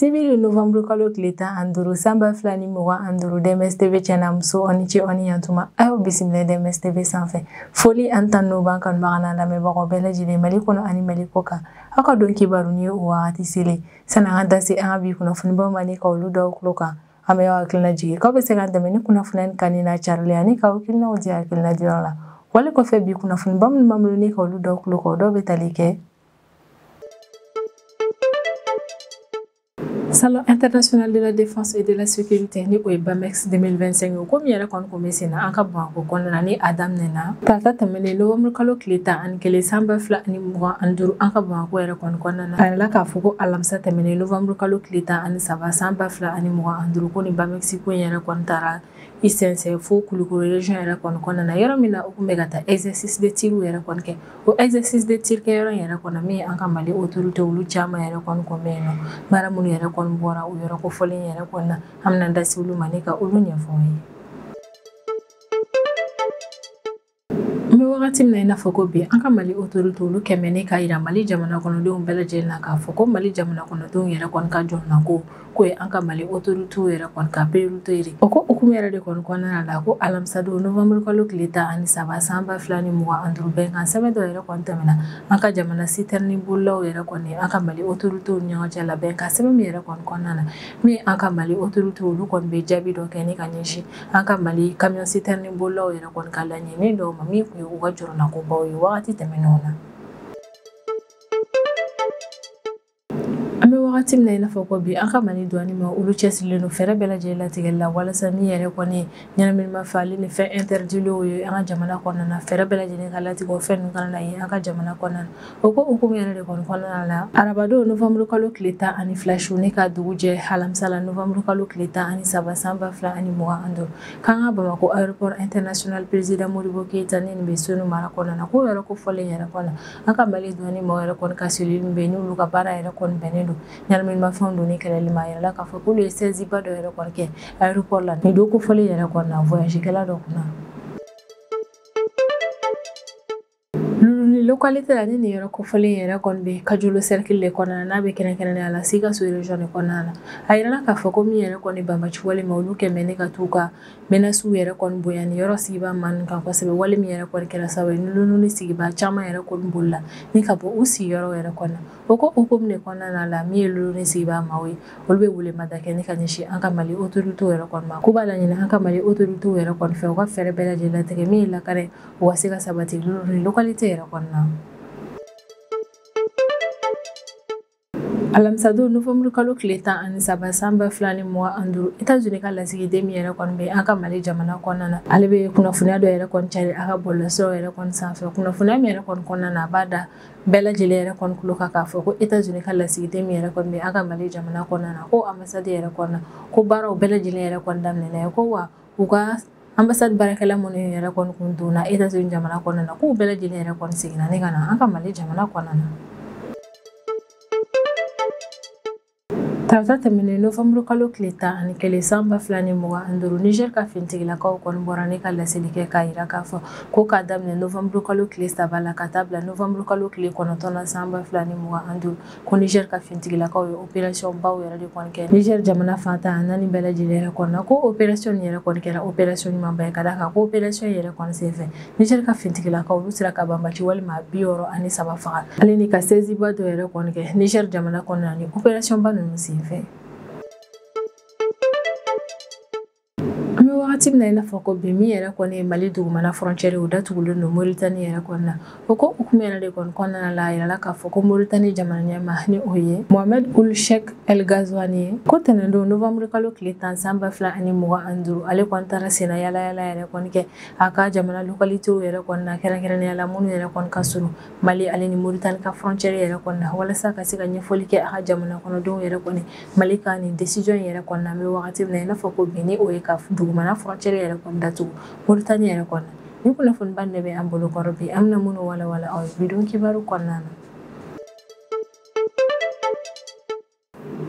sibiri novanburu kalo tile tan ani duuru san ba fila ni mugan ani duuru DMS TV cɛ n'a muso aw ni ce aw ni yantuma a y'aw bisimila DMS TV sanfɛ foli ani tanu b'an kanubaga n'an lamɛnbagaw bɛɛ lajɛlen mali kɔnɔ ani mali kɔ kan aw ka don kibaru nin ye o wagati selen san'an ka da se an ka bi kunnafonibaw ma ni ka olu da aw tulo kan an bɛ aw hakilina jigin k'aw bɛ se k'an dɛmɛ ni kunnafoniya ni kanni n'a carili ani k'aw hakilinaw di hakilina diyɔrɔ la wale kɔfɛ bi kunnafoniba minnu b'an bolo ni ka olu da aw tulo kan dɔw bɛ tali kɛ Salon international de la défense et de la sécurité ni o ye BAMEX 2025 ye o ko min yɛrɛ kɔni Kun bɛ sen na an ka Bamakɔ kɔnɔna na ni a daminɛna tarata tɛmɛnen novanburu kalo tile tan ani kelen san ba fila ani mugan ani duuru an ka Bamakɔ yɛrɛ kɔni kɔnɔna na a yirala k'a fɔ ko alamisa tɛmɛnen novanburu kalo tile tan ani saba san ba fila ani mugan ani duuru ko ni BAMEX ko in yɛrɛ kɔni taara i sɛnsɛn fo kulukoro région yɛrɛ kɔni kɔnɔna na yɔrɔ min na u tun bɛ ka taa exercice de tir yɛrɛ kɔni kɛ o exercice de tir kɛ yɔrɔ yɛrɛ kɔnɔ min an ka mali autorité olu caman yɛrɛ kɔni kun bɛ yen na baara minnu yɛrɛ kɔni bɔra o yɔrɔ kofɔlen yɛrɛ kɔnɔna na An bɛna da se olu ma ni ka olu ɲɛfɔ aw ye. An bɛ wagati min na i n'a fɔ ko bi an ka Mali autorités olu kɛ bɛ ne k'a jira Mali jamana kɔnɔdenw bɛɛ lajɛlen na k'a fɔ ko Mali jamana kɔnɔdenw yɛrɛ kɔni ka jɔrɔnako k'o ye an ka Mali autorités yɛrɛ kɔni ka priorité ye. O ko hukumu yɛrɛ de kɔni kɔnɔna la ko alamisadon novembre kalo tile tan ani saba san ba fila ni mugan ani duuru bɛnkan sɛbɛn dɔ yɛrɛ kɔni tɛmɛna an ka jamana citerne bolilaw yɛrɛ kɔni an ka Mali autorités ni ɲɔgɔn cɛ la bɛnkan sɛbɛn min yɛrɛ kɔni kɔnɔna na min an ka mali autorité olu kɔni bɛ jaabi dɔ kɛ ni ka ɲɛsin an ka mali camion citerne bolilaw yɛrɛ kɔni ka laɲini dɔw ma min tun ye u ka jɔrɔnakobaw ye wagati tɛmɛnenw na an bɛ wagati min na i n'a fɔ ko bi an ka mali douane maa olu cɛsirilen don fɛɛrɛ bɛɛ lajɛlen latigɛli la walasa min yɛrɛ kɔni ɲɛnaminimafɛn ni fɛn interdilenw ye an ka jamana kɔnɔna na fɛɛrɛ bɛɛ lajɛlen ka latigɛ o fɛn ninnu kana na ye an ka jamana kɔnɔna na o ko hukumu yɛrɛ de kɔni kɔnɔna la arabadon novanburu kalo tile tan ani fila su ni ka dugu jɛ alamisa la novanburu kalo tile tan ani saba san ba fila ani mugan ani duuru k'an ka bamakɔ aéroport international président modibo keyita ni nin bɛ senu mara kɔnɔna na k'o yɔrɔ kofɔlen yɛrɛ kɔnɔ an ka mali douane mɔgɔ yɛrɛ kɔni ka cellule bɛ yen n'olu ka baara yɛrɛ kɔni bɛnnen don ɲɛnaminimafɛnw donni kɛlɛli ma a yirala k'a fɔ k'olu ye saisieba dɔ yɛrɛ kɔni kɛ aéroport la nin don kofɔlen yɛrɛ kɔni na voyagekɛla dɔ kunna localité la ni nin yɔrɔ kofɔlen yɛrɛ kɔni bɛ kajolo cercle de kɔnɔna n'a bɛ kɛrɛnkɛrɛnnenya la sikaso region de kɔnɔna na a yirala k'a fɔ ko min yɛrɛ kɔni banbaanci wale maa olu kɛmɛ ne ka t'u ka menasiw yɛrɛ kɔni bonya nin yɔrɔ sigibaa maa kan kosɛbɛ wale min yɛrɛ kɔni kɛra sababu ye ni luluni sigibaa caman yɛrɛ kɔni bolila ni ka bɔ u sigiyɔrɔ yɛrɛ kɔnɔ O ko hukumu de kɔnɔna la min ye Luluni sigibaa maaw ye olu bɛ welemada kɛ ne ka ɲɛsin an ka mali autoritéw yɛrɛ kɔni ma k'u b'a laɲini an ka mali autoritéw yɛrɛ kɔni fɛ u ka fɛɛrɛ bɛɛ lajɛlen latigɛ min ye lakana ye o ka se ka sabati localité yɛrɛ kɔnɔna na alamisadon novembre kalo tile tan ani saba sanba fila ni mugan ani duuru États-Unis ka lasigiden min yɛrɛ kɔni bɛ an ka mali jamana kɔnɔna na ale bɛ kunnafoniya dɔ yɛrɛ kɔni cari a ka bɔlɔlɔsiraw yɛrɛ kɔni sanfɛ kunnafoniya min yɛrɛ kɔni kɔnɔna na a b'a da bɛɛ lajɛlen yɛrɛ kɔni tulo kan k'a fɔ ko États-Unis ka lasigiden min yɛrɛ kɔni bɛ an ka Mali jamana kɔnɔna na ko ambassade yɛrɛ kɔnɔna ko baaraw bɛɛ lajɛlen yɛrɛ kɔni daminɛna ye ko wa u ka ambassade baarakɛla minnu yɛrɛ kɔni kun donna États-Unis jamana kɔnɔna na k'u bɛɛ lajɛlen yɛrɛ kɔni seginna ne ka na an ka Mali jamana kɔnɔna na Tarata tɛmɛnen novembre kalo tile tan ani kelen san ba fila ni mugan ani duuru Niger ka finitigilakaw kɔni bɔra ne ka laseli kɛ k'a yira k'a fɔ ko k'a daminɛ novembre kalo tile saba la ka taa bila novembre kalo tile kɔnɔntɔn na san ba fila ni mugan ani duuru ko Niger ka finitigilakaw ye opération baw yɛrɛ de kɔni kɛ Niger jamana fan tan naani bɛɛ lajɛlen yɛrɛ kɔnɔna ko opération yɛrɛ kɔni kɛra opération ɲumanba ye ka d'a kan ko opération yɛrɛ kɔni senfɛ Niger ka finitigilakaw olu sera ka banbaanci walima bi wɔɔrɔ ani saba faga ale ni ka saisieba dɔ yɛrɛ kɔni kɛ Niger jamana kɔnɔna ni opération ba ninnu senfɛ an bɛ wagati min na i n'a fɔ ko bi min yɛrɛ kɔni ye mali dugumana frontière o datugulen don Mauritanie yɛrɛ kɔni na o ko hukumu yɛrɛ de kɔni kɔnɔna la a yirala k'a fɔ ko Mauritanie jamana ɲɛmaa ni o ye Mohamed Ould Cheikh El Ghazouani ye ko tɛnɛndon novembre kalo tile tan san ba fila ani mugan ani duuru ale kɔni taara senna yaala yɛrɛ kɔni kɛ A ka jamana localitéw yɛrɛ kɔni na kɛrɛnkɛrɛnnenya la minnu yɛrɛ kɔni ka surun Mali ale ni Mauritanie ka frontière yɛrɛ kɔni na walasa ka se ka ɲɛfɔli kɛ a ka jamana kɔnɔdenw yɛrɛ kɔni Mali ka nin décision in yɛrɛ kɔni na an bɛ wagati min na i n'a fɔ ko bi ni o ye ka dugumana frontière yɛrɛ kɔni datugu Mauritanie yɛrɛ kɔni na nin kunnafoniba in de bɛ an bolo kɔrɔ bi an bɛna minnu walawala aw ye bidon kibaru kɔnɔna na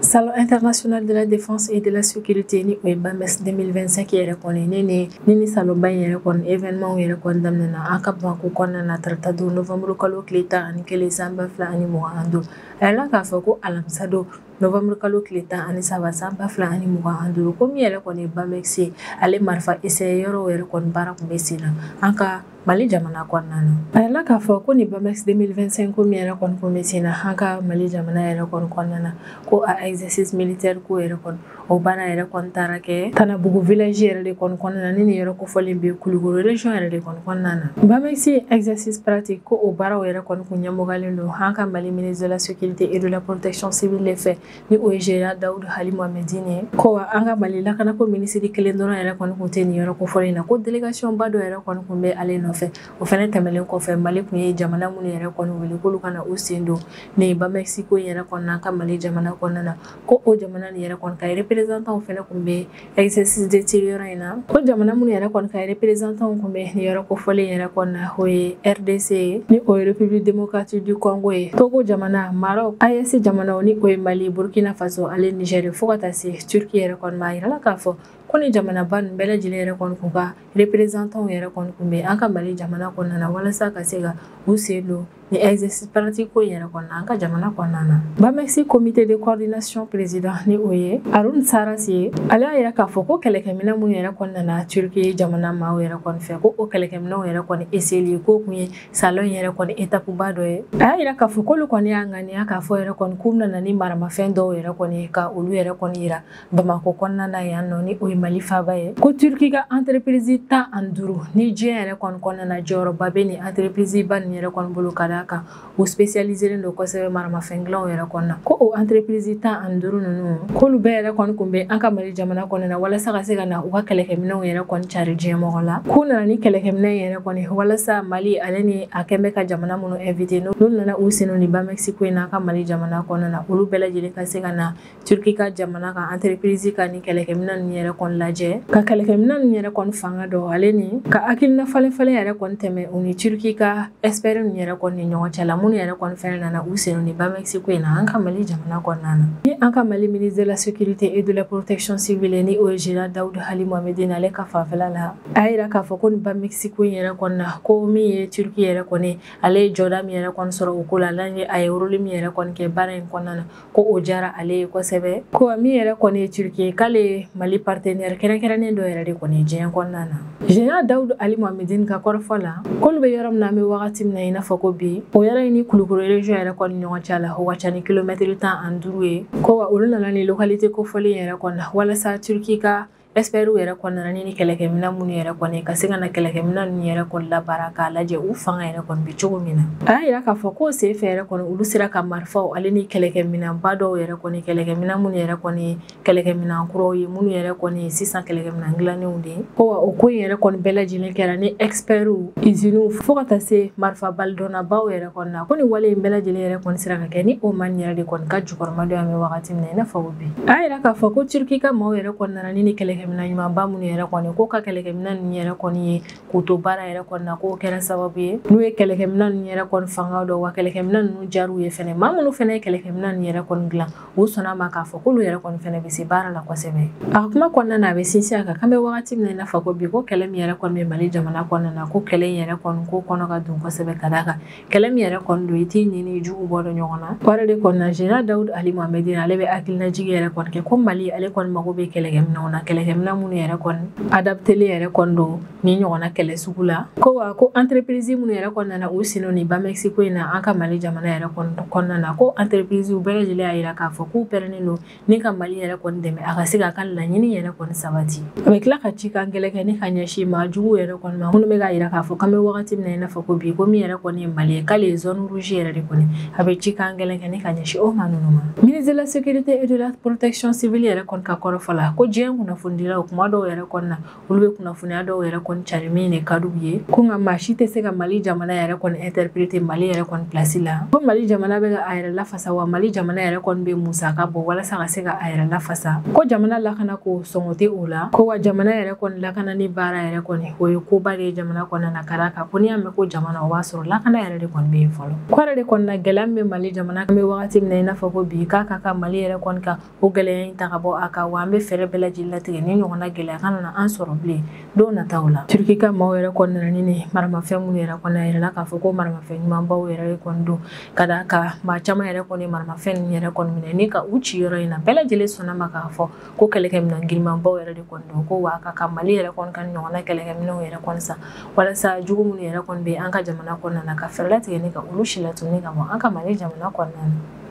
salon international de la défense et de la sécurité ni o ye BAMEX 2025 yɛrɛ kɔni ni nin salonba in yɛrɛ kɔni événement yɛrɛ kɔni daminɛna an ka Bamakɔ kɔnɔna na tarata don novembre kalo tile tan ani kelen san ba fila ani mugan ani duuru a yirala k'a fɔ ko alamisa don novembre kalo tile tan ani saba san ba fila ani mugan ani duuru ko min yɛrɛ kɔni ye BAMEX ye ale marifa essayé yɔrɔw yɛrɛ kɔni baara kun bɛ sen na an ka Mali jamana kɔnɔna na a yirala k'a fɔ ko ni BAMEX 2025 ko min yɛrɛ kɔni kun bɛ sen na an ka mali jamana yɛrɛ kɔni kɔnɔna na ko a exercice militaire ko yɛrɛ kɔni o baara yɛrɛ kɔni taara kɛ Tanabugu village yɛrɛ de kɔni kɔnɔna na ni nin yɛrɛ kofɔlen bɛ Kulukoro région yɛrɛ de kɔni kɔnɔna na BAMEX exercice pratique ko o baaraw yɛrɛ kɔni kun ɲɛmɔgɔyalen don an ka mali ministre de la sécurité et de la protection civile de fɛ ni o ye Général Dawudu Hali Mohamedine ye ko wa an ka Mali lakanako minisiri kelen dɔrɔn yɛrɛ kɔni kun tɛ nin yɔrɔ kofɔlen in na ko délégation ba dɔ yɛrɛ kɔni kun bɛ ale nɔfɛ o fɛnɛ tɛmɛlen kɔfɛ Mali kun ye jamana minnu yɛrɛ kɔni wele k'olu ka na u sen don nin Bamex ko in yɛrɛ kɔnɔna an ka Mali jamana kɔnɔna na ko o jamana nin yɛrɛ kɔni ka représentant fɛnɛ kun bɛ exercice de tir yɔrɔ in na ko jamana minnu yɛrɛ kɔni ka représentanw kun bɛ nin yɔrɔ kofɔlen yɛrɛ kɔni na o ye rdc ye ni o ye république démocratique du congo ye togo jamana maroc aes jamanaw ni o ye mali burkina faso ale niger ye fo ka taa se turki yɛrɛ kɔni ma a yirala k'a fɔ ko ni jamanaba nin bɛɛ lajɛlen yɛrɛ kɔni kun ka représentanw yɛrɛ kɔni kun bɛ an ka mali jamana kɔnɔna na walasa ka se ka u sen don Ni exercice pratique ko in yɛrɛ kɔnɔna an ka jamana kɔnɔna na Bamex comité de coordination président ni o ye Harun Saraç ye ale y'a yira k'a fɔ ko kɛlɛkɛminɛ minnu yɛrɛ kɔni nana turki jamana maaw yɛrɛ kɔni fɛ ko o kɛlɛkɛminɛw yɛrɛ kɔni eseyeli k'o kun ye salon yɛrɛ kɔni etapuba dɔ ye a y'a yira k'a fɔ k'olu kɔni y'a ŋaniya k'a fɔ yɛrɛ kɔni k'u nana ni maramafɛn dɔw yɛrɛ kɔni ye ka olu yɛrɛ kɔni yira bamakɔ kɔnɔna na yan nɔ ni o ye mali faaba ye ko turki ka entreprise tan ani duuru ni diɲɛ yɛrɛ kɔni kɔnɔna na jɔyɔrɔba bɛ nin entreprise ba nin yɛrɛ kɔni bolo ka d'a kan u specialiselen don kosɛbɛ maramafɛn dilanw yɛrɛ kɔnɔna ko o entreprise tan ani duuru ninnu k'olu bɛɛ yɛrɛ kɔni kun bɛ an ka mali jamana kɔnɔna na walasa ka se ka na u ka kɛlɛkɛminɛw yɛrɛ kɔni cari diɲɛ mɔgɔ la k'u nana ni kɛlɛkɛminɛ yɛrɛ kɔni walasa mali ale ni a kun bɛ ka jamana minnu invite n'olu nana u sen don ni Bamex ko in na an ka mali jamana kɔnɔna na olu bɛɛ lajɛlen ka se ka na turki ka jamana ka entreprise ka ni kɛlɛkɛmina ninnu yɛrɛ kɔni lajɛ ka kɛlɛkɛmina ninnu yɛrɛ kɔni fanga dɔn ale ni ka hakilina falenfalen yɛrɛ kɔni tɛmɛ u ni turki ka expert ninnu yɛrɛ kɔni ni ɲɔgɔn cɛ la minnu yɛrɛ kɔni fɛnɛ nana u sen don ni Bamex ko in na an ka mali jamana kɔnɔna na ni an ka mali ministre de la sécurité et de la protection civile ni o ye général dawudu hali mohamedine ale ka fanfɛla la a y'a yira k'a fɔ ko ni Bamex ko in yɛrɛ kɔni na ko min ye turki yɛrɛ kɔni ale ye jɔda min yɛrɛ kɔni sɔrɔ o ko la ani a ye rôle min yɛrɛ kɔni kɛ baara in kɔnɔna na ko o diyara ale ye kosɛbɛ ko wa min yɛrɛ kɔni ye turki ye k'ale ye mali partenaire kɛrɛnkɛrɛnnen dɔ yɛrɛ de kɔni ye diɲɛ kɔnɔna na général dawudu ali mohamedine ka kɔrɔfɔ la k'olu bɛ yɔrɔ min na an bɛ wagati min na i n'a fɔ ko bi o yɔrɔ in ni kulukoro region yɛrɛ kɔni ɲɔgɔn cɛ la o ka ca ni kilomɛtiri tan ani duuru ye ko wa olu nana ni localité kofɔlen yɛrɛ kɔni na walasa turki ka Espɛriw yɛrɛ kɔni nana ni kɛlɛkɛminɛ minnu yɛrɛ kɔni ka se ka na kɛlɛkɛminɛ ninnu yɛrɛ kɔni labaara k'a lajɛ u fanga yɛrɛ kɔni bɛ cogo min na a y'a yira k'a fɔ ko sen fɛ yɛrɛ kɔni olu sera ka marifaw ale ni kɛlɛkɛminɛba dɔw yɛrɛ kɔni kɛlɛkɛminɛ minnu yɛrɛ kɔni kɛlɛkɛminɛ kuraw ye minnu yɛrɛ kɔni sisan kɛlɛkɛminɛ dilannenw de ye ko wa o ko in yɛrɛ kɔni bɛɛ lajɛlen kɛra ni espɛriw iziniw fo ka taa se marifabalidɔnnabaw yɛrɛ kɔni na ko ni wale in bɛɛ lajɛlen yɛrɛ kɔni sera ka kɛ ni o man yɛrɛ de kɔni ka jɔ jukɔrɔma don an bɛ wagati min na i n'a fɔ ko bi a y'a yira k'a fɔ ko turki ka maaw yɛrɛ kɔni nana ni nin kɛlɛkɛminɛ ɲumanba minnu yɛrɛ kɔni ko ka kɛlɛkɛminɛ ninnu yɛrɛ kɔni ye k'u to baara yɛrɛ kɔni na k'o kɛra sababu ye n'u ye kɛlɛkɛminɛ ninnu yɛrɛ kɔni fanga dɔn wa kɛlɛkɛminɛ ninnu jar'u ye fɛnɛ maa minnu fɛnɛ ye kɛlɛkɛminɛ ninnu yɛrɛ kɔni dilan u sɔnna ma k'a fɔ k'olu yɛrɛ kɔni fɛnɛ bɛ se baara la kosɛbɛ a ka kuma kɔnɔna na a bɛ sinsin a kan k'an bɛ wagati min na i n'a fɔ ko bi ko kɛlɛ min yɛrɛ kɔni bɛ mali jamana kɔnɔna na ko kɛlɛ in yɛrɛ kɔni ko kɔnɔ ka dun kosɛbɛ ka d'a kan kɛlɛ min yɛrɛ kɔni don i t'i ɲin n'i jugu bɔ dɔn ɲɔgɔn na o yɛrɛ de kɔni na général dawud ali mohamɛdin ale bɛ hakilinajigi yɛrɛ kɔni kɛ ko mali ale kɔni mago bɛ kɛlɛkɛminɛw na kɛlɛkɛminɛ minnu yɛrɛ kɔni adaptelen yɛrɛ kɔni don nin ɲɔgɔnna kɛlɛ sugu la ko wa ko entreprise minnu yɛrɛ kɔni nana u sen don nin bamex ko in na an ka mali jamana yɛrɛ kɔnɔna na ko entreprise bɛɛ lajɛlen y'a jira k'a fɔ k'u pɛrɛnnen don ni ka mali yɛrɛ kɔni dɛmɛ a ka se k'a ka laɲini yɛrɛ kɔni sabati a bɛ tila ka cikan gɛlɛn kɛ ni ka ɲɛsin maa jugu yɛrɛ kɔni ma minnu bɛ k'a yira k'a fɔ k'an bɛ wagati min na i n'a fɔ ko bi ko min yɛrɛ kɔni ye mali ye k'ale ye zone rouge yɛrɛ de kɔni a bɛ cikan gɛlɛn kɛ ni ka ɲɛsin o maa ninnu ma ministre de la sécurité et de la protection civile yɛrɛ kɔni ka kɔrɔfɔ la ko diɲɛ kunnafonidilaw kuma dɔw yɛrɛ kɔni na olu bɛ kunnafoniya dɔw yɛrɛ kɔni cari min de ka d'u ye ko nka maa si tɛ se ka mali jamana yɛrɛ kɔni interprete mali yɛrɛ kɔni pilasi la ko mali jamana bɛ ka a yɛrɛ lafasa wa mali jamana yɛrɛ kɔni bɛ musaka bɔ walasa ka se ka a yɛrɛ lafasa ko jamana lakana ko sɔngɔ tɛ o la ko wa jamana yɛrɛ kɔni lakana ni baara yɛrɛ kɔni o ye koba de ye jamana kɔnɔna na ka d'a kan ko n'i y'a mɛn ko jamana o b'a sɔrɔ lakana yɛrɛ de kɔni bɛ yen fɔlɔ k'o yɛrɛ de kɔni na gɛlɛya min bɛ mali jamana kan an bɛ wagati min na i n'a fɔ ko bi k'a ka kan mali yɛrɛ kɔni ka o gɛlɛya in ta ka bɔ a kan wa an bɛ fɛɛrɛ bɛɛ lajɛlen latigɛ nin ɲɔgɔnna gɛlɛya kana na an sɔrɔ bilen don nataw la turki ka maaw yɛrɛ kɔni nana ni nin maramafɛn minnu yɛrɛ kɔni a yirala k'a fɔ ko maramafɛn ɲumanbaw yɛrɛ kɔni don ka d'a kan maa caman yɛrɛ kɔni maramafɛn ninnu yɛrɛ kɔni minɛ ni ka u ci yɔrɔ in na bɛɛ lajɛlen sɔnna ma k'a fɔ ko kɛlɛkɛminɛn girinmanbaw yɛrɛ de kɔni don ko wa a ka kan mali yɛrɛ kɔni ka ɲɔgɔnna kɛlɛkɛminɛnw yɛrɛ kɔni san walasa jugu minnu yɛrɛ kɔni bɛ an ka jamana kɔnɔna na ka fɛɛrɛ latigɛ ni ka olu silatunu ka bɔ an ka mali jamana kɔnɔna na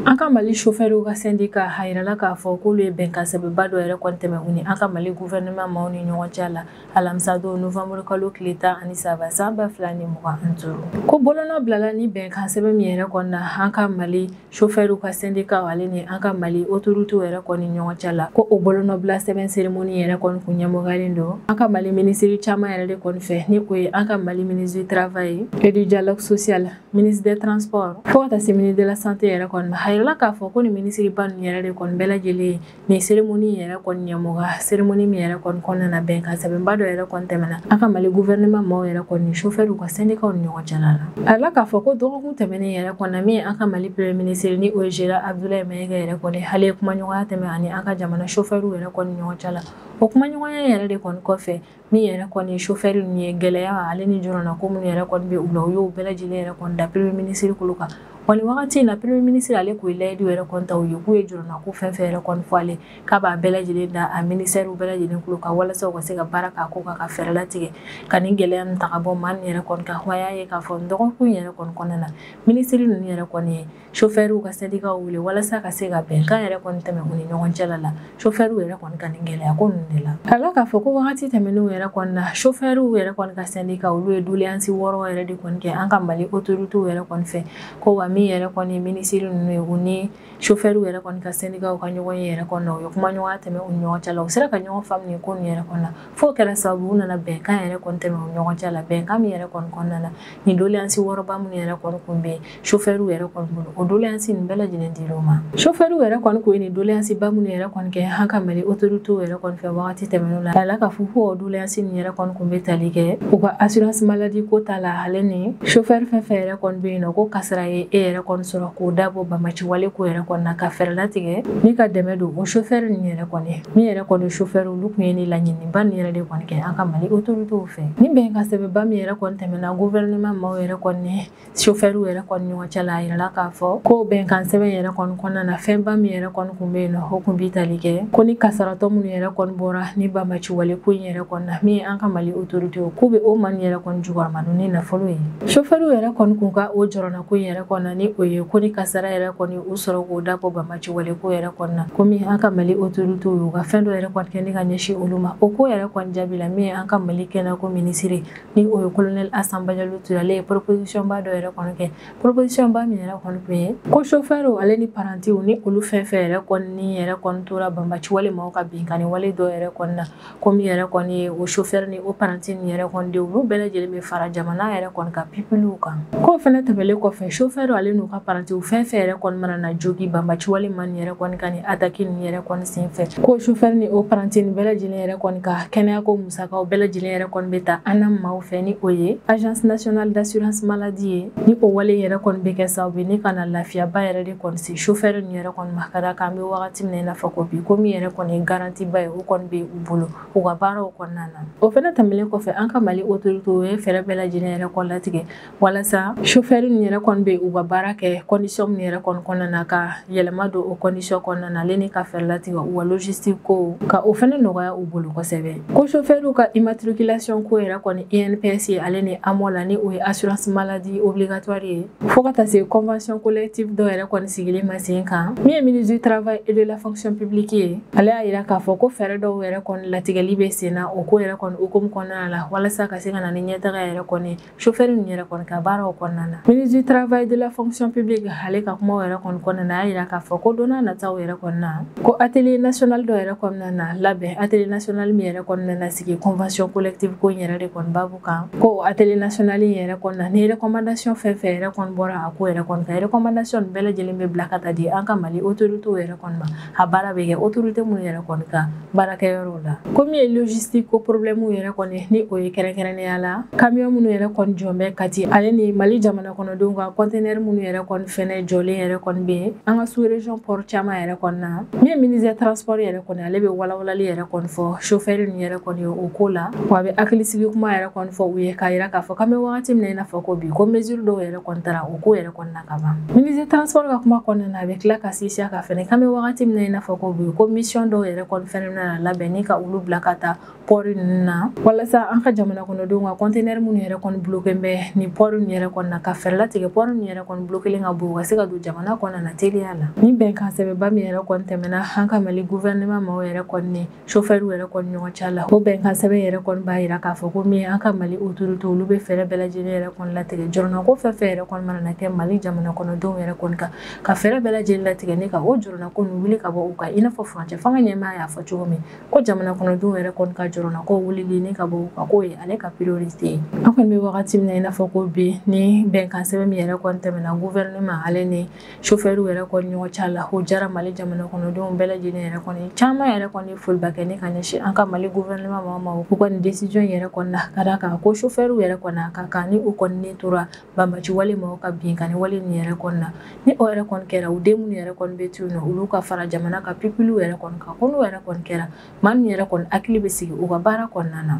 an ka mali sofɛriw ka sɛndika a yirala k'a fɔ k'olu ye bɛnkan sɛbɛnba dɔ yɛrɛ kɔni tɛmɛ u ni an ka mali guvɛrɛnɛman maaw ni ɲɔgɔn cɛ la alamisadon novanburu kalo tile tan ani saba san ba fila ni mugan ani duuru ko bolonɔ bilala ni bɛnkan sɛbɛn min yɛrɛ kɔni na an ka mali sofɛriw ka sɛndika ale ni an ka mali otoritew yɛrɛ kɔni ɲɔgɔn cɛ la ko o bolonɔbila sɛbɛn seremoni yɛrɛ kɔni kun ɲɛmɔgɔyalen don an ka mali minisiri caman yɛrɛ de kɔni fɛ ni o ye an ka mali ministre du travail et du dialogue social ministre des transports fo ka taa se ministre de la santé yɛrɛ kɔni ma a yirala k'a fɔ ko nin minisiriba ninnu yɛrɛ de kɔni bɛɛ lajɛlen nin seremoni yɛrɛ kɔni ɲɛmɔgɔya seremoni min yɛrɛ kɔni kɔnɔna na bɛnkan sɛbɛnba dɔ yɛrɛ kɔni tɛmɛna an ka mali guvɛrɛnɛman maaw yɛrɛ kɔni ni sofɛriw ka sɛndikaw ni ɲɔgɔn cɛla la a yirala k'a fɔ ko dɔgɔkun tɛmɛnen yɛrɛ kɔnɔna min an ka mali premier minisiri ni o ye général abdulayi mayiga yɛrɛ kɔni ale ye kumaɲɔgɔnya tɛmɛ a ni an ka jamana sofɛriw yɛrɛ kɔni ɲɔgɔn cɛ la o kumaɲɔgɔnya yɛrɛ de kɔni kɔfɛ min yɛrɛ kɔni chauffeur ninnu ye gɛlɛya ale ni jɔrɔna ko minnu yɛrɛ kɔni bɛ u la u y'o bɛɛ lajɛlen yɛrɛ kɔni da premier ministre tulo kan wa nin wagati in na premier ministre ale k'o layidu yɛrɛ kɔni ta u ye k'u ye jɔrɔna ko fɛn fɛn yɛrɛ kɔni fɔ ale k'a b'a bɛɛ lajɛlen da a ministère bɛɛ lajɛlen tulo kan walasa u ka se ka baara k'a ko kan ka fɛɛrɛ latigɛ ka nin gɛlɛya ninnu ta ka bɔ maa ninnu yɛrɛ kɔni kan wa y'a ye k'a fɔ dɔgɔkun yɛrɛ kɔni kɔnɔna na ministre ninnu yɛrɛ kɔni ye sofɛriw ka sɛdikaw wele walasa ka se ka bɛnkan yɛrɛ kɔni tɛmɛ u ni ɲɔgɔn cɛla la sofɛriw yɛrɛ kɔni ka nin gɛlɛya ko ninnu de la a la k'a fɔ ko wagati tɛmɛnenw yɛrɛ kɔni na sofɛriw yɛrɛ kɔni ka sɛdika olu ye doleyansi wɔɔrɔ yɛrɛ de kɔni kɛ an ka mali otoritew yɛrɛ kɔni fɛ ko wa min yɛrɛ kɔni minisiri ninnu ye u ni sofɛriw yɛrɛ kɔni ka sɛdikaw ka ɲɔgɔn ye yɛrɛ kɔni na u ye kumaɲɔgɔnya tɛmɛ u ni ɲɔgɔn cɛ la u sera ka ɲɔgɔn faamu nin ko nin yɛrɛ kɔni na f'o kɛra sababu u nana bɛnkan yɛrɛ kɔni tɛmɛ u ni ɲɔgɔn cɛ la bɛnkan min yɛrɛ kɔni kɔnɔna na nin doleyansi wɔɔrɔba minnu yɛrɛ kɔni kun bɛ yen sofɛriw yɛrɛ kɔni bolo o doleyansi nin bɛɛ lajɛlen dir'u ma sofɛriw yɛrɛ kɔni kun ye nin doleyansi ba minnu yɛrɛ kɔni kɛ an ka mali otoritew yɛrɛ kɔni fɛ wagati tɛmɛnenw la a la k'a fɔ ko o doleyansi nin yɛrɛ kɔni kun bɛ tali kɛ u ka assurance maladie ko ta la ale ni sofɛri fɛn fɛn yɛrɛ kɔni bɛ yen nɔ ko kasara ye e yɛrɛ kɔni sɔrɔ k'o dabɔ banbaci wale ko yɛrɛ kɔni na ka fɛɛrɛ latigɛ ni ka dɛmɛ don o sofɛri nin yɛrɛ kɔni min yɛrɛ kɔni sofɛri olu tun ye ni laɲiniba nin yɛrɛ de kɔni kɛ an ka mali otoritew fɛ ni bɛnkan sɛbɛnba min yɛrɛ kɔni tɛmɛna gouvernement maaw yɛrɛ kɔni sofɛriw yɛrɛ kɔni ɲɔgɔn cɛ la a yirala k'a fɔ ko bɛnkan sɛbɛn yɛrɛ kɔni kɔnɔna na fɛnba min yɛrɛ kɔni kun bɛ yen nɔ o kun bi tali kɛ ko ni kasaratɔ minnu yɛrɛ kɔni bɔra ni banbaci wale ko in yɛrɛ kɔni na min ye an ka mali otorite k'u bɛ o maa nin yɛrɛ kɔni jukɔrɔma don ni nafolo ye sofɛriw yɛrɛ kɔni kun ka o jɔrɔna ko in yɛrɛ kɔni na ni o ye ko ni kasara yɛrɛ kɔni y'u sɔrɔ k'o dabɔ banbaci wale ko yɛrɛ kɔni na komi an ka mali otoritew ka fɛn dɔ yɛrɛ kɔni kɛ ni ka ɲɛsin olu ma o ko yɛrɛ kɔni jaabi la min ye an ka mali kɛnɛyako minisiri ni o ye kolonɛli asan bajalo ture ale ye proposition ba dɔ yɛrɛ kɔni kɛ proposition ba min yɛrɛ kɔni tun ye ko sofɛriw ale ni parantiw ni olu fɛn fɛn yɛrɛ kɔni ni yɛrɛ kɔni tora banbaci wale maaw ka binkanni wale dɔ yɛrɛ kɔni na ko min yɛrɛ kɔni ye o sofɛri ni o paranti ni yɛrɛ kɔni denw olu bɛɛ lajɛlen bɛ fara jamana yɛrɛ kɔni ka pipiliw kan k'o fɛnɛ tɛmɛlen kɔfɛ sofɛriw ale n'u ka parantiw fɛn fɛn yɛrɛ kɔni mana na jogi banbaci wale maa nin yɛrɛ kɔni ka ni ataki ni yɛrɛ kɔni sen fɛ k'o sofɛri ni o paranti ni bɛɛ lajɛlen yɛrɛ kɔni ka kɛnɛyako Musakaw bɛɛ lajɛlen yɛrɛ kɔni bɛ ta ANAM maaw fɛ ni o ye agence nationale d'assurance maladie ye ni o wale yɛrɛ kɔni bɛ kɛ sababu ye ni ka na lafiyaba yɛrɛ de kɔni se chauffeur ninnu yɛrɛ kɔni ma ka d'a kan an bɛ wagati min na i n'a fɔ ko bi ko min yɛrɛ kɔni ye garantie ba ye o kɔni bɛ u bolo u ka baaraw kɔnɔna na o fɛnɛ tɛmɛlen kɔfɛ an ka Mali autoritéw ye fɛɛrɛ bɛɛ lajɛlen yɛrɛ kɔni latigɛ walasa sofɛri nin yɛrɛ kɔni bɛ u ka baara kɛ kɔndisɔn min yɛrɛ kɔni kɔnɔna na ka yɛlɛma don o kɔndisɔn kɔnɔna na ale ni ka fɛɛrɛ latigɛ u ka logistique ko ka o fɛnɛ nɔgɔya u bolo kosɛbɛ ko sofɛriw ka imatrikilasiyɔn ko yɛrɛ kɔni inps ye ale ni amɔ la ni o ye assurance maladie obligatoire ye fo ka taa se convention collective dɔ yɛrɛ kɔni sigili ma sen kan min ye ministre du travail et de la fonction publique ye ale y'a yira k'a fɔ ko fɛɛrɛ dɔw yɛrɛ kɔni latigɛli bɛ sen na o ko yɛrɛ kɔni hukumu kɔnɔna la walasa ka se ka na ni ɲɛtaga yɛrɛ kɔni chauffeur ninnu yɛrɛ kɔni ka baaraw kɔnɔna na ministre du travail de la fonction publique ale ka kumaw yɛrɛ kɔni kɔnɔna na a y'a yira k'a fɔ ko don nataw yɛrɛ kɔni na ko atelier national dɔ yɛrɛ kɔni na na labɛn atelier national min yɛrɛ kɔni na na sigi convention collective ko in yɛrɛ de kɔni babu kan ko atelier national in yɛrɛ kɔni na ni recommandation fɛn fɛn yɛrɛ kɔni bɔra a ko yɛrɛ kɔni kan recommandation bɛɛ lajɛlen bɛ bila ka taa di an ka mali autorités yɛrɛ kɔni ma a baara bɛ kɛ autorité minnu yɛrɛ kɔni ka baarakɛyɔrɔw la ko min ye logistique ko problème yɛrɛ kɔni ni o ye kɛrɛnkɛrɛnnenya la camion minnu yɛrɛ kɔni jɔlen bɛ Kati ale ni Mali jamana kɔnɔdenw ka conteneur minnu yɛrɛ kɔni fɛnɛ jɔlen yɛrɛ kɔni bɛ an ka sous région port caman yɛrɛ kɔni na min ye ministre transport yɛrɛ kɔni ale bɛ walawalali yɛrɛ kɔni fɔ chauffeur ninnu yɛrɛ kɔni ye o ko la wa a bɛ hakilisigi kuma yɛrɛ kɔni fɔ u ye k'a yira k'a fɔ k'an bɛ wagati min na i n'a fɔ ko bi ko mesure dɔw yɛrɛ kɔni tara o ko yɛrɛ kɔni na ka ban ministre transport ka kuma kɔnɔna na a bɛ tila ka sinsin a kan fɛnɛ k'an bɛ wagati min na i n'a fɔ ko bi ko mission dɔw yɛrɛ kɔni fɛnɛ bɛna labɛn ni ka olu bila ka taa pɔri ninnu na walasa an ka jamana kɔnɔdenw ka kɔntenɛri minnu yɛrɛ kɔni bulokelen bɛ nin pɔri ninnu yɛrɛ kɔni na ka fɛɛrɛ latigɛ pɔri ninnu yɛrɛ kɔni bulokelen ka bɔ u ka se ka don jamana kɔnɔna na teliya la ni bɛnkan sɛbɛnba min yɛrɛ kɔni tɛmɛna an ka mali guvɛrɛnɛman maaw yɛrɛ kɔni sofɛriw yɛrɛ kɔni ɲɔgɔn cɛ la o bɛnkan sɛbɛn yɛrɛ kɔni b'a yira k'a fɔ ko min an ka mali otorite olu bɛ fɛɛrɛ bɛɛ lajɛlen yɛrɛ kɔni latigɛ jɔrɔnako fɛn fɛn yɛrɛ kɔni mana kɛ mali jamana kɔnɔdenw yɛrɛ kɔni kan ka fɛɛrɛ bɛɛ lajɛlen latigɛ ni ka o jɔrɔnako ninnu wuli ka bɔ u kan i n'a fɔ furancɛ fanga ɲɛmaa y'a fɔ cogo min ko jamana kɔnɔdenw yɛrɛ kɔni ka jɔrɔnako wulili ni ka bɔ u kan k'o ye ale ka priorite ye an kɔni bɛ wagati min na i n'a fɔ ko bi ni bɛnkan sɛbɛn min yɛrɛ kɔni tɛmɛna gouvernement ale ni sofɛriw yɛrɛ kɔni ɲɔgɔn cɛ la o diyara mali jamana kɔnɔdenw bɛɛ lajɛlen yɛrɛ kɔni caman yɛrɛ kɔni foliba kɛ ni k'a ɲɛsin an ka mali gouvernement maaw ma u kɔni decision yɛrɛ kɔni na ka da kan ko sofɛriw yɛrɛ kɔni a ka kan ni u kɔni ni tora banbaanci wale maaw ka binkanni wale nin yɛrɛ kɔni na ni o yɛrɛ kɔni kɛra u den minnu yɛrɛ kɔni bɛ to u nɔ olu ka fara jamana ka pipiliw yɛrɛ kɔni kan ko n'o yɛrɛ kɔni kɛra maa min yɛrɛ kɔni hakili bɛ sigi u ka baara kɔnɔna na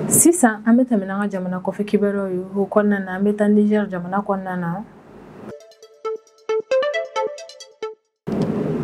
sisan an bɛ tɛmɛ n'an ka jamana kɔfɛ kibaruyaw ye o kɔnɔna na an bɛ taa nizɛri jamana kɔnɔna na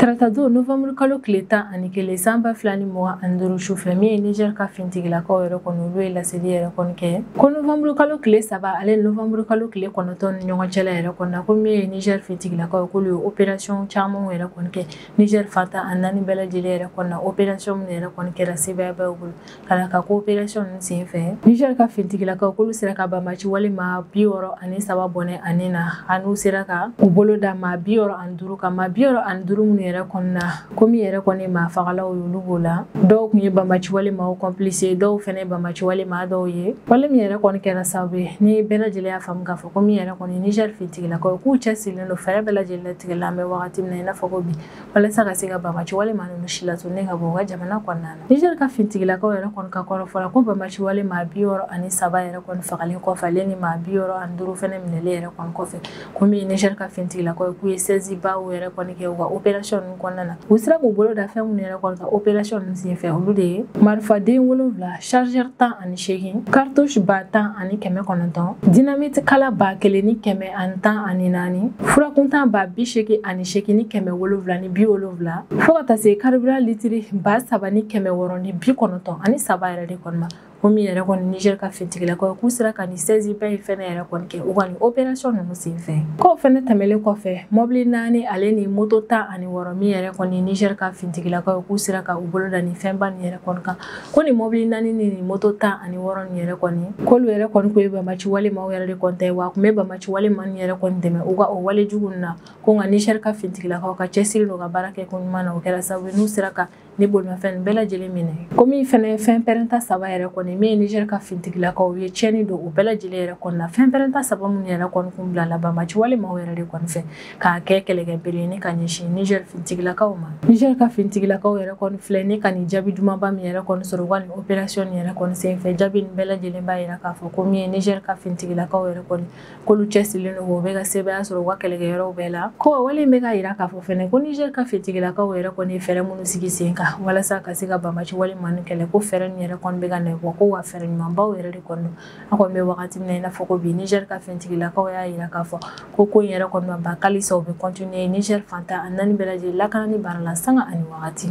taratadon novanburu kalo tile tan ani kelen san ba fila ni mugan ani duuru sufɛ min ye nizɛri ka finitigilakaw yɛrɛ kɔni olu ye laseli yɛrɛ kɔni kɛ ko novanburu kalo tile saba ale ni novanburu kalo tile kɔnɔntɔn ni ɲɔgɔn cɛla yɛrɛ kɔni na ko min ye nizɛri finitigilakaw ye k'olu ye operasiyɔn camanw yɛrɛ kɔni kɛ Niger fan tan ani naani bɛɛ lajɛlen yɛrɛ kɔni na opération min yɛrɛ kɔni kɛra sebaayaba bolo ka na ka ko opération ninnu sen fɛ Niger ka finitigilakaw k'olu sera ka banbaci wale maa bi wɔɔrɔ ani saba bɔnɛ u ni na an'u sera ka u bolo da maa bi wɔɔrɔ ani duuru kan maa bi wɔɔrɔ ani duuru minnu yɛrɛ kɔni na komi yɛrɛ kɔni maa fagalaw y'olu b'o la dɔw kun ye banbaci wale maaw complice dɔw fɛnɛ banbaci wale maa dɔw ye wale min yɛrɛ kɔni kɛra sababu ye ni bɛɛ lajɛlen y'a faamu k'a fɔ Ko min yɛrɛ kɔni Niger finitigilakaw k'u cɛsirilen don fɛɛrɛ bɛɛ lajɛlen latigɛ la an bɛ waati min na i n'a fɔ ko bi walasa ka se ka banbaci wale maa nin silatunu ka bɔ u ka jamana kɔnɔna na Niger ka finitigilakaw yɛrɛ kɔni ka kɔrɔfɔ la ko banbaci wale maa bi wɔɔrɔ ani saba yɛrɛ kɔni fagalen kɔfɛ ale ni maa bi wɔɔrɔ ani duuru fɛnɛ minɛlen yɛrɛ kɔni kɔfɛ ko min ye Niger ka finitigilakaw k'u ye saisie ba yɛrɛ kɔni kɛ u ka opération kɔnɔna na u sera k'u bolo da fɛn minnu yɛrɛ kɔni kan opération ninnu senfɛ olu de ye marifaden wolonwula chargeur tan ani seegin cartouche ba tan ani kɛmɛ kɔnɔntɔn dynamite kala ba kelen ni kɛmɛ ani tan ani naani furakuntan ba bi seegin ani seegin ni kɛmɛ wolonwula ni bi wolonwula fɔɔ ka taa se carburant litiri ba saba ni kɛmɛ wɔɔrɔ ni bi kɔnɔntɔn ani saba yɛrɛ de kɔni ma komi yɛrɛ kɔni niger ka finitigilakaw k'u sera ka nin saisie ba in fɛnɛ yɛrɛ kɔni kɛ u ka nin operasiyɔn ninnu sen fɛ k'o fɛnɛ tɛmɛlen kɔfɛ mɔbili naani ale ni moto tan ani wɔɔrɔ min yɛrɛ kɔni niger ka finitigilakaw k'u sera ka u bolo da ni fɛnba nin yɛrɛ kɔni kan ko ni mɔbili naani ni ni moto tan ani wɔɔrɔ nin yɛrɛ kɔni k'olu yɛrɛ kɔni k'o ye banbaci wale maaw yɛrɛ de kɔni ta ye wa u kun bɛ banbaci wale maa nin yɛrɛ kɔni dɛmɛ u ka o wale jugu nin na ko nka niger ka finitigilakaw ka cɛsiri n'u ka baara kɛ ko ɲuman na o kɛra sababu n'u sera ka ni bolimafɛn bɛɛ lajɛlen minɛ komi fɛnɛ fɛn pɛrɛnta saba yɛrɛ kɔni min ye niger ka finitigilakaw ye tiɲɛni don u bɛɛ lajɛlen yɛrɛ kɔni na fɛn pɛrɛnta saba minnu yɛrɛ kɔni kun bilala banbaci wale maaw yɛrɛ de kɔni fɛ k'a kɛ kɛlɛkɛ bere ni ka ɲɛsin niger finitigilakaw ma niger ka finitigilakaw yɛrɛ kɔni filɛ ni ka nin jaabi dumanba min yɛrɛ kɔni sɔrɔ u ka nin operasiyɔn nin yɛrɛ kɔni senfɛ jaabi nin bɛɛ lajɛlen b'a yira k'a fɔ ko min ye niger ka finitigilakaw yɛrɛ kɔni k'olu cɛsirilen don u bɛ ka sebaaya sɔrɔ u ka kɛlɛkɛyɔrɔw bɛɛ la ko wale in bɛ ka yira k'a fɔ fɛnɛ ko niger ka finitigilakaw yɛrɛ kɔni ye fɛɛrɛ minnu sigi sen kan walasa ka se ka banbaci wale maa ninnu kɛlɛ ko fɛɛrɛ nin yɛrɛ kɔni bɛ ka nɔ bɔ ko wa fɛɛrɛ ɲumanbaw yɛrɛ de kɔni don an kɔni bɛ wagati min na i n'a fɔ ko bi niger ka finitigilakaw y'a yira k'a fɔ ko ko in yɛrɛ kɔni ma ban halisa u bɛ kɔntiniye niger fan tan ani naani bɛɛ lajɛlen lakanani baara la sanga ani wagati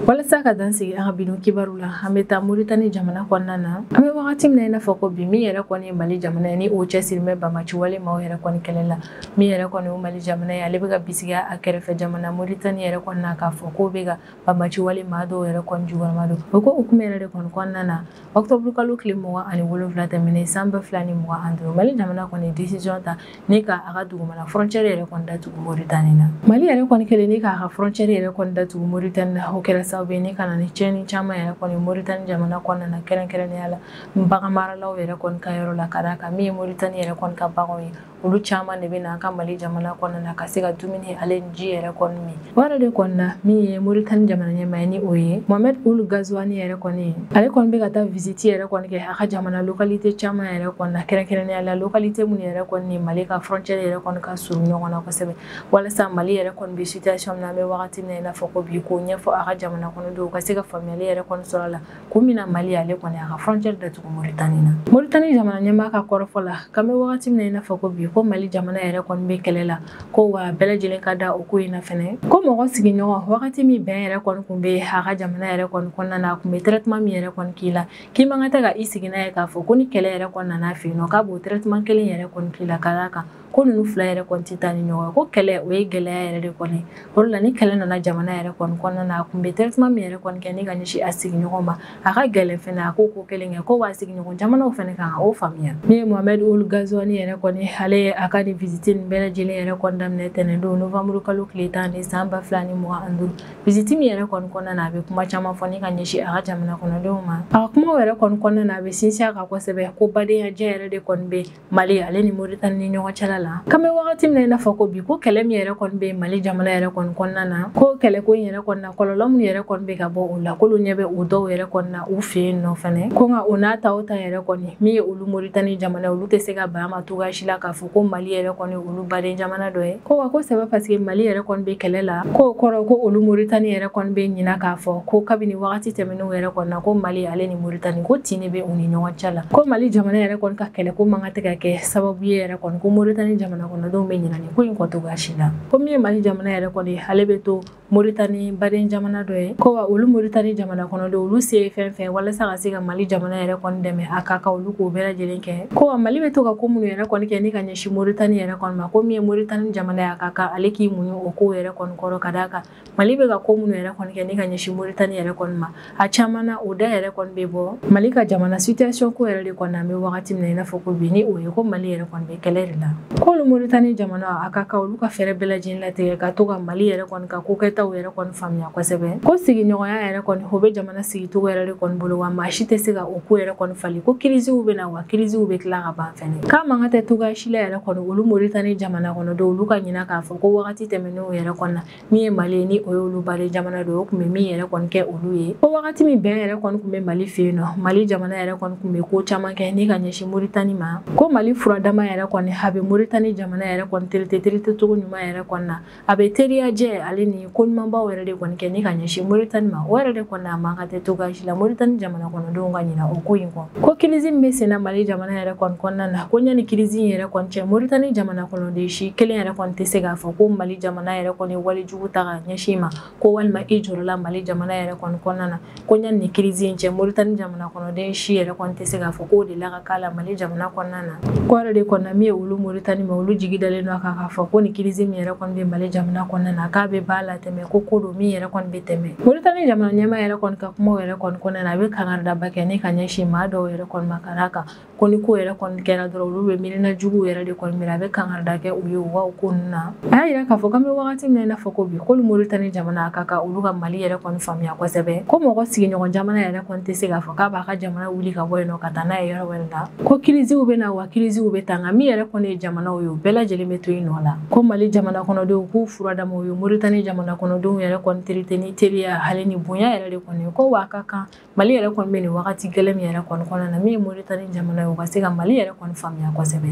walasa ka dan sigi an ka bi don kibaru la an bɛ taa moritani jamana kɔnɔna na an bɛ wagati min na i n'a fɔ ko bi min yɛrɛ kɔni ye mali jamana ye ni o cɛsirilen bɛ banbaci wale maaw yɛrɛ kɔni kɛlɛ la min yɛrɛ kɔni ye mali jamana ye ale bɛ ka bisigiya a kɛrɛfɛ jamana moritani yɛrɛ kɔni na k'a fɔ k'o bɛ ka banbaci wale maa dɔw yɛrɛ kɔni jukɔrɔma don o ko hukumu yɛrɛ de kɔni kɔnɔna na ɔktɔburukalo tile mugan ani wolonwula tɛmɛnen san ba fila ni mugan ani duuru mali jamana kɔni ye desiziyɔn ta ni ka a ka dugumana frontière yɛrɛ kɔni datugu Mauritanie na Mali yɛrɛ kɔni kɛlen ni k'a ka frontière yɛrɛ kɔni datugu Mauritanie na o kɛra sababu ye ni ka na ni tiɲɛni caman yɛrɛ kɔni Mauritanie jamana kɔnɔna na kɛrɛnkɛrɛnnenya la bagan maralaw yɛrɛ kɔni ka yɔrɔ la ka d'a kan min ye Mauritanie yɛrɛ kɔni ka baganw ye olu caman de bɛ na an ka Mali jamana kɔnɔna na ka se ka dumuni ale ni ji yɛrɛ kɔni min O yɛrɛ de kɔni na min ye Mauritanie jamana ɲɛmaa ye ni o ye Mohamed Ould Ghazouani yɛrɛ kɔni ale kɔni bɛ ka taa visite yɛrɛ kɔni kɛ a ka jamana localité caman yɛrɛ kɔni na kɛrɛnkɛrɛnnenya la localité minnu yɛrɛ kɔni ni Mali ka frontière yɛrɛ kɔni ka surun ɲɔgɔn na kosɛbɛ walasa Mali yɛrɛ kɔni bɛ situation min na an bɛ wagati min na i n'a fɔ ko bi k'o ɲɛfɔ a ka jamana kɔnɔdenw ka se ka faamuyali yɛrɛ kɔni sɔrɔ a la kun min na mali ale kɔni a ka frontière datugu moritani na moritani jamana ɲɛmaa ka kɔrɔfɔ la k'an bɛ wagati min na i n'a fɔ ko bi ko mali jamana yɛrɛ kɔni bɛ kɛlɛ la ko wa bɛɛ lajɛlen ka da o ko in na fɛnɛ ko mɔgɔ sigiɲɔgɔn wagati min bɛn yɛrɛ kɔni kun bɛ a ka jamana yɛrɛ kɔni kɔnɔna na a kun bɛ traitement min yɛrɛ kɔni k'i la k'i man kan tɛ ka i sigi n'a ye k'a fɔ ko ni kɛlɛ yɛrɛ kɔni nana a fɛ yen nɔ k'a b'o traitement kelen yɛrɛ kɔni k'i la ka d'a kan ko ninnu fila yɛrɛ kɔni tɛ taa ni ɲɔgɔn ye ko kɛlɛ o ye gɛlɛya yɛrɛ de kɔni o de la ni kɛlɛ nana jamana yɛrɛ kɔni kɔnɔna na a tun bɛ traitement min yɛrɛ kɔni kɛ ni ka ɲɛsin a sigiɲɔgɔn ma a ka gɛlɛn fɛnɛ a k'o ko kelen kɛ ko b'a sigiɲɔgɔn jamanaw fɛnɛ kan o faamuya min ye Mohamed Ould Ghazouani yɛrɛ kɔni ale ye a ka nin visite nin bɛɛ lajɛlen yɛrɛ kɔni daminɛ tɛnɛndon novembre kalo tile tan ni san ba fila ni mugan ani duuru visite min yɛrɛ kɔni kɔnɔna na a bɛ kuma caman fɔ ni ka ɲɛsin a ka jamana kɔnɔdenw ma a ka kumaw yɛrɛ kɔni kɔnɔna na a bɛ sinsin a kan kosɛbɛ ko badenyajɛ yɛrɛ de kɔni bɛ mali ale ni moritani ni ɲɔgɔn cɛla la k'an bɛ wagati min na i n'a fɔ ko bi ko kɛlɛ min yɛrɛ kɔni bɛ mali jamana yɛrɛ kɔni kɔnɔna na ko kɛlɛko in yɛrɛ kɔni na kɔlɔlɔ min yɛrɛ kɔni bɛ ka bɔ o la k'olu ɲɛ bɛ o dɔw yɛrɛ kɔni na u fɛ yen nɔ fɛnɛ ko nka o n'a ta o ta yɛrɛ kɔni min ye olu moritani jamana ye olu tɛ se ka ban ma cogoya si la k'a fɔ ko mali yɛrɛ kɔni olu baden jamana dɔ ye ko wa ko c'est pas parce que mali yɛrɛ kɔni bɛ kɛlɛ la k'o kɔrɔ ko olu moritani yɛrɛ kɔni bɛ ɲina k'a fɔ ko kabini wagati tɛmɛnenw yɛrɛ kɔni na ko mali ale ni moritani ko tin bɛ u ni ɲɔgɔn cɛ la ko mali jamana yɛrɛ kɔni ka kɛlɛ ko man kan tɛ ka kɛ sababu ye yɛrɛ kɔni ko moritani jamana kɔnɔdenw bɛ ɲina nin ko in kɔ cogoya si la ko min ye mali jamana yɛrɛ kɔni ale bɛ to moritani baden jamana dɔ ye ko wa olu moritani jamana kɔnɔdenw olu se ye fɛn fɛn walasa ka se ka mali jamana yɛrɛ kɔni dɛmɛ a ka kan olu k'o bɛɛ lajɛlen kɛ ko wa mali bɛ to ka ko minnu yɛrɛ kɔni kɛ ni ka ɲɛsin moritani yɛrɛ kɔni ma ko min ye moritani jamana y'a ka kan ale k'i muɲu o kow yɛrɛ kɔni kɔrɔ ka d'a kan mali bɛ ka ko minnu yɛrɛ kɔni kɛ ni ka ɲɛsin moritani yɛrɛ kɔni ma a caman na o da yɛrɛ kɔni bɛ bɔ mali ka jamana situation ko yɛrɛ de kɔni an bɛ wagati min na i n'a fɔ ko bi ni o ye ko mali yɛrɛ kɔni bɛ kɛlɛ de la k'olu moritani jamana a ka kan olu ka fɛɛrɛ bɛɛ lajɛlen latigɛ ka to ka mali yɛrɛ kɔni ka kokɛtaw yɛrɛ kɔni faamuya kosɛbɛ ko sigiɲɔgɔnya yɛrɛ kɔni o bɛ jamana sigicogo yɛrɛ de kɔni bolo wa maa si tɛ se ka o ko yɛrɛ kɔni falen ko kirisiw bɛ na wa kirisiw bɛ tila ka ban fɛnɛ k'a man kan tɛ cogoya si la yɛrɛ kɔni olu moritani jamana kɔnɔdenw olu ka ɲina k'a fɔ ko wagati tɛmɛnenw yɛrɛ kɔni na min ye mali ye ni o ye olu baden jamana don o tun bɛ min yɛrɛ kɔni kɛ olu ye ko wagati min bɛn yɛrɛ kɔni tun bɛ mali fɛ yen nɔ mali jamana yɛrɛ kɔni tun bɛ ko caman kɛ ni ka ɲɛsin moritani ma ko mali furadama yɛrɛ kɔni a bɛ moritani jamana yɛrɛ kɔni terite terite cogo ɲuman yɛrɛ kɔnɔna na a bɛ teriya jɛ ale ni ko ɲumanbaw yɛrɛ de kɔni kɛ ni ka ɲɛsin moritani ma o yɛrɛ de kɔni a man kan tɛ cogo si la moritani jamana kɔnɔdenw ka ɲina o ko in kɔ ko kirizi min bɛ senna mali jamana yɛrɛ kɔni kɔnɔna na ko ɲani kirizi in yɛrɛ kɔni cɛ moritani jamana kɔnɔden si kelen yɛrɛ kɔni tɛ se k'a fɔ ko mali jamana yɛrɛ kɔni wale jugu ta ka ɲɛsin ma ko walima i jɔrɔla mali jamana yɛrɛ kɔni kɔnɔna na ko ɲani kirizi in cɛ moritani jamana kɔnɔden si yɛrɛ kɔni tɛ se k'a fɔ k'o delila ka k'a la mali jamana kɔnɔna na k'o yɛrɛ de kɔnɔna min ye olu moritani ma olu jigi dalen don a kan k'a fɔ ko nin kirizi min yɛrɛ kɔni bɛ mali jamana kɔnɔna na k'a bɛ b'a la tɛmɛ ko ko don min yɛrɛ kɔni bɛ tɛmɛ moritani jamana ɲɛmaa yɛrɛ kɔni ka kumaw yɛrɛ kɔni kɔnɔna na a bɛ kangaridaba kɛ ni ka ɲɛsin maa dɔw yɛrɛ kɔni ma ka d'a kan ko ni ko yɛrɛ kɔni kɛra dɔrɔn olu bɛ miirina juguw yɛrɛ de kɔni miiri a bɛ kangarida kɛ u ye u ka bɔ ko ninnu na a y'a yira k'a fɔ k'an bɛ wagati min na i n'a fɔ ko bi k'olu moritani jamana a ka kan olu ka mali yɛrɛ kɔni faamuya kosɛbɛ ko mɔgɔ sigiɲɔgɔn jamana yɛrɛ kɔni tɛ se k'a fɔ k'a b'a ka jamana wuli ka bɔ yen nɔ ka taa n'a ye yɔrɔ wɛrɛ la ko kiriziw bɛ na wa kiriziw bɛ taa nka min yɛrɛ kɔni ye jamanaw ye u bɛɛ lajɛlen bɛ to i nɔ la ko mali jamana kɔnɔdenw k'u furadamaw ye moritani jamana kɔnɔdenw yɛrɛ kɔni terite ni teriya hali ni bonya yɛrɛ de kɔni ko wa a ka kan Mali yɛrɛ kɔni bɛ nin wagati gɛlɛn min yɛrɛ kɔni kɔnɔna na min ye Mauritanie jamana ye o ka se ka Mali yɛrɛ kɔni faamuya kosɛbɛ.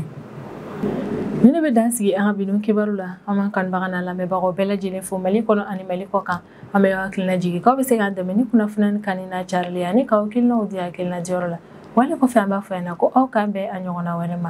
Nin de bɛ dan sigi an ka bi don kibaru la an b'an kanubagaw n'an lamɛnbagaw bɛɛ lajɛlen fo Mali kɔnɔ ani Mali kɔ kan an bɛ aw hakili lajigin k'aw bɛ se k'an dɛmɛ ni kunnafoni in kanuni n'a carili ye ani k'aw hakilinaw di hakilina diyɔrɔ la wale kɔfɛ an b'a fɔ yan nɔ ko aw k'an bɛn a ɲɔgɔnna wɛrɛ ma